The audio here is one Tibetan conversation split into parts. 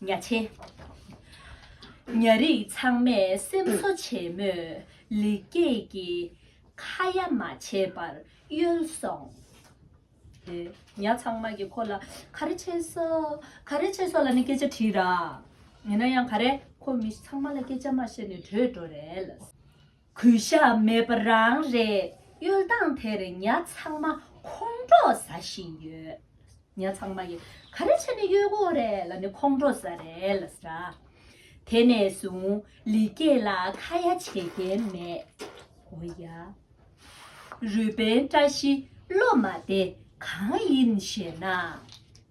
གཉའ་ཆེན། གཉའ་རིགས་ཚང་མས་སེམས་གསོ་བྱེད་མོད་ལེགས་སྐྱེས་ཀྱི་ཁ་ཡ་མ་བྱེད་པར་གཡོལ་སོང། དེ་གཉའ་ཚང་མ་གིས་ཁོ་ལ་ག་རེ་བྱས་སོ། ག་རེ་བྱས་སོ་ལ་ནི་སྐད་ཆ་དྲིས་ར། ཡིན་ན་ཡང་ག་རེ་ཁོ་མི་ཚང་མ་ལ་སྐད་ཆ་མ་བཤད་ནས་བྲོས་འགྲོ་རལ། གུས་ཞབས་མེད་པ་རང་རེད་གཡུལ་སྟངས་དེར་ཉ་ཚང་མ་ཁོང་ཁྲོ་ཟ་བཞིན་ཡོད། ཉ་ཚང་མ་ཡིས་ག་རེ་བྱས་ནས་གཡུལ་འགོག་རེད་ལ་ནི་ཁོང་ཁྲོ་ཟ་རེད་ལ་ཟེར། དེ་ནས་བཟུང་ལི་སྐྱེས་ལ་ཁ་ཡ་བྱེད་མཁན་མེད། འོ་ཡ། རུས་པའི་བཀྲ་ཤིས་སློབ་མ་དེ་གང་ཡིན་ཞེ་ན།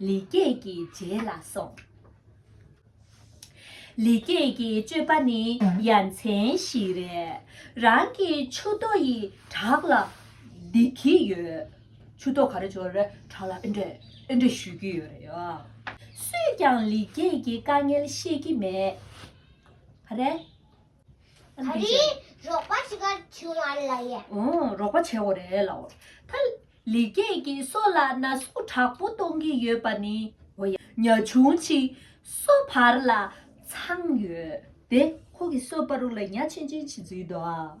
ལེགས་སྐྱེས་ཀྱི་རྗེས་ལ་སོང། ལེགས་སྐྱེས་ཀྱི་སྤྱོད་པ་ནི་ཡ་མཚན་ཞིག་རེད། རང་གི་མཆུ་ཏོ་ཡི་བྲག་ལ་འདེད་ཀྱི་ཡོད། མཆུ་ཏོ་ག་རེ་བྱོ་རེ་བྲག་ལ་ཨེ་འདྲེད་ཨེ་འདྲེད་ཞུས་ཀྱི་ཡོད་རེད། སུས་ཀྱང་ལེགས་སྐྱེས་ཀྱི་དཀའ་ངལ་ཤེས་ཀྱི་མེད་རེད། ཨ་འདི་ཅན། རོགས་པ་བྱེད་ཁར་བྱུང་བ་ལ་ཡ། རོགས་པ་བྱེད་འོ་རེད་ལ་འོ། ད་ལི་སྐྱེས་ཀྱིས་སོ་ལ་ན་ཟུག་དྲག་པོ་གཏོང་གི་ཡོད་པ་ནི་འོ་ཡ། ཉ་ཆུང་ཆི་སོ་བར་ལ་ཚང་ཡོད་དེ། ཁོ་གི་སོ་པ་རུ་ལ་ཉ་ཆེན་ཆེན་ཆི་འཛུལ་འདུག་ཨ།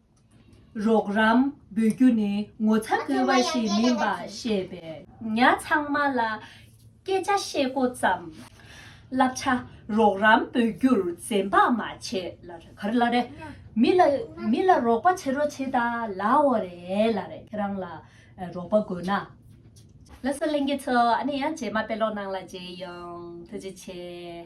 རོགས་རམ་འབུལ་རྒྱུ་ནི་ངོ་ཚ་དགོས་པ་ཞིག་མིན་པ་ཤེས་པས་ཉག་ཚང་མ་ལ་སྐད་ཆ་བཤད་མགོ་བརྩམས། བསླབ་བྱ་རོགས་རམ་འབུལ་རྒྱུར་འཛེམ་བག་མ་བྱེད། མི་ལ་རོགས་པ་བྱེད་རོགས་བྱེད་ལ་འོ་རེད་ཁྱེད་རང་ལ་རོགས་པ་དགོས་ན། ལ་སོ་གླིང་གི་ཚོ་ཨ་ནི་ཡང་རྗེས་མ་དཔེ་ཀློག་ནང་ལ་བརྗེས་ཡོང་ཐུགས་རྗེ་ཆེ།